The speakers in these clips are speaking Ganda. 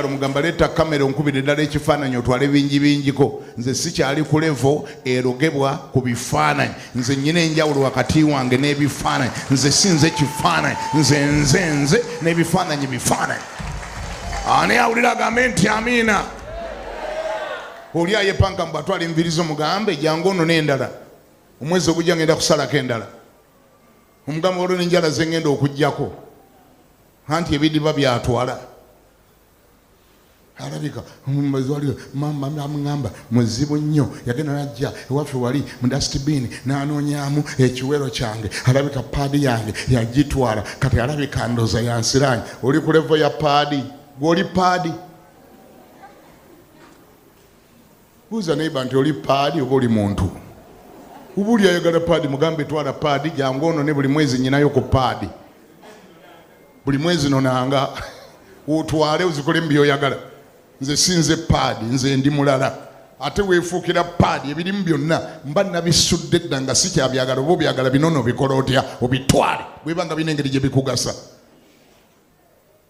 Omugala omugamba leeta kamera onkubire ddala ekifaananyi otwale bingi bingiko nze sikyali ku levo erogebwa ku bifaananyi nze nyina enjawulo wakati wange n'ebifaananyi nze si nze kifaananyi nze nze nze n'ebifaananyi bifaananyi ani awulira agambe nti amiina oli ayepanka mbu atwala envirizo mugambe jangu ono n'endala omwezi ogujja ngenda kusalako endala omugamba olwo nenjala zengenda okugyako anti ebidiba byatwala alabika mazwaliro mama amuŋamba muzibu nnyo yagenda najja ewaffe wali mu dustbin nanoonyamu ekiwero kyange alabika paadi yange yagitwala kati alabika ndoza yansiraanyi oli ku levo ya paadi gwoli paadi Buuza neighbor nti oli paadi oba oli muntu? Uba oli ayagala paadi mugambe twala paadi jangu ono ne buli mwezi nyinayo ku paadi. Buli mwezi nonanga otwale ozikole mu byoyagala. Nze sinze paadi, nze ndi mulala. Ate weefuukira paadi ebirimu byonna mba nabisudde dda nga sikyabyagala oba obyagala binono bikola otya obitwale bweba nga bina engeri gye bikugasa.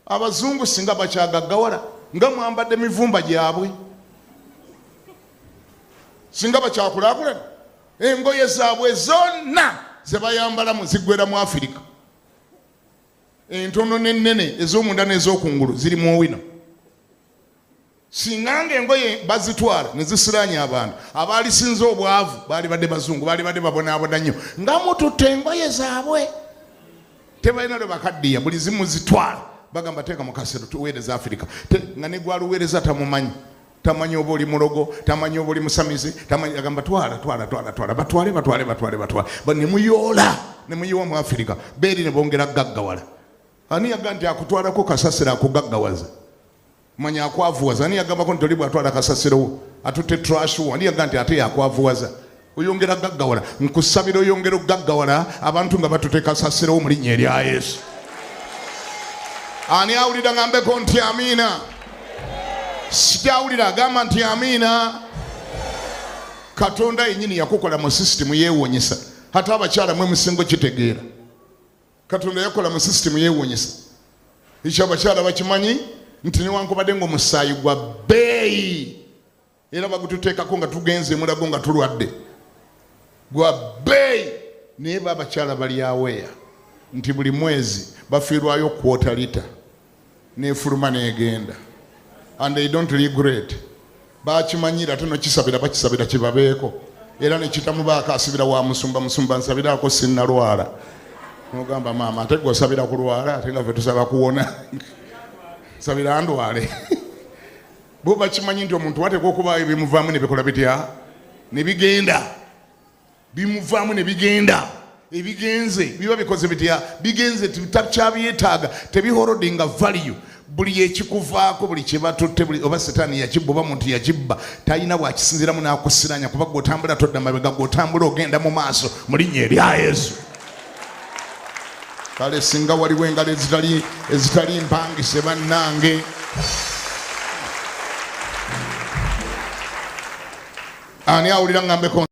Abazungu singa bakyagaggawala nga mwambadde mivumba gyabwe, singa bakyakulaakulana engoye zaabwe zonna ze bayambalamu ziggwera mu Afirika. Entono n'ennene ez'omunda n'ez'okungulu ziri mu owino. singa nga engoye bazitwala ne zisiraanya abantu abaalisinza obwavu baali badde bazungu baali badde babonaabona nnyo nga mututte engoye zaabwe tebalina lwe bakaddiya buli zimu zitwala bagamba teeka mu kasero tuweereza afirika nga ne gwaluweereza tamumanyi tamanyi oba oli mulogo tamanyi oba oli musamize agamba twala twala twala twala batwale batwale batwale batwale nemuyoola nemuyiwa mu afirika beeri ne bongera gaggawala ani yagamba nti akutwalako kasasiro akugaggawaza manya akwavuwaza ani yagambako nti oli bwatwala kasasirowo atutte trashuwa ani yagamba nti ate yakwavuwaza oyongera gaggawala nkusabira oyongera okugaggawala abantu nga batute kasasirowo mu linnya erya yesu ani awulira ngambeko nti amiina sikyawulira agamba nti amiina katonda yenyini yakukola mu sisitimu yewonyesa ate abakyala mwe musingo kitegeera katonda yakola mu sisitemu yewunyisa ekyo abakyala bakimanyi nti newankubadde nga omusaayi gwa bbeeyi era bagututeekako nga tugenze emulago nga tulwadde gwa bbeeyi naye ba abakyala balyaweya nti buli mwezi bafiirwayo kwota lita nefuluma negenda and they don't regret bakimanyira ate nokisabira bakisabira kibabeeko era nekitamubaako asibira wa musumba musumba nsabiraako sinnalwala nogamba maama ate gwe osabira kulwala ate nga fe tusaba kuwona sabira ndwale bo bakimanyi nti omuntu wateeka okubaayo bimuvaamu nebikola bitya nebigenda bimuvaamu ne bigenda ebigenze biba bikoze bitya bigenze takyabyetaaga tebihorodinga value buli ekikuvaako buli kyebatutte oba setaani yakibba oba muntu yakibba talina bwakisinziramu nakusiranya kuba gweotambula todda mabega gweotambula ogenda mu maaso mu linnya erya yesu kale singa waliwo engalo ezitali mpangise bannange ani awulira ngambeko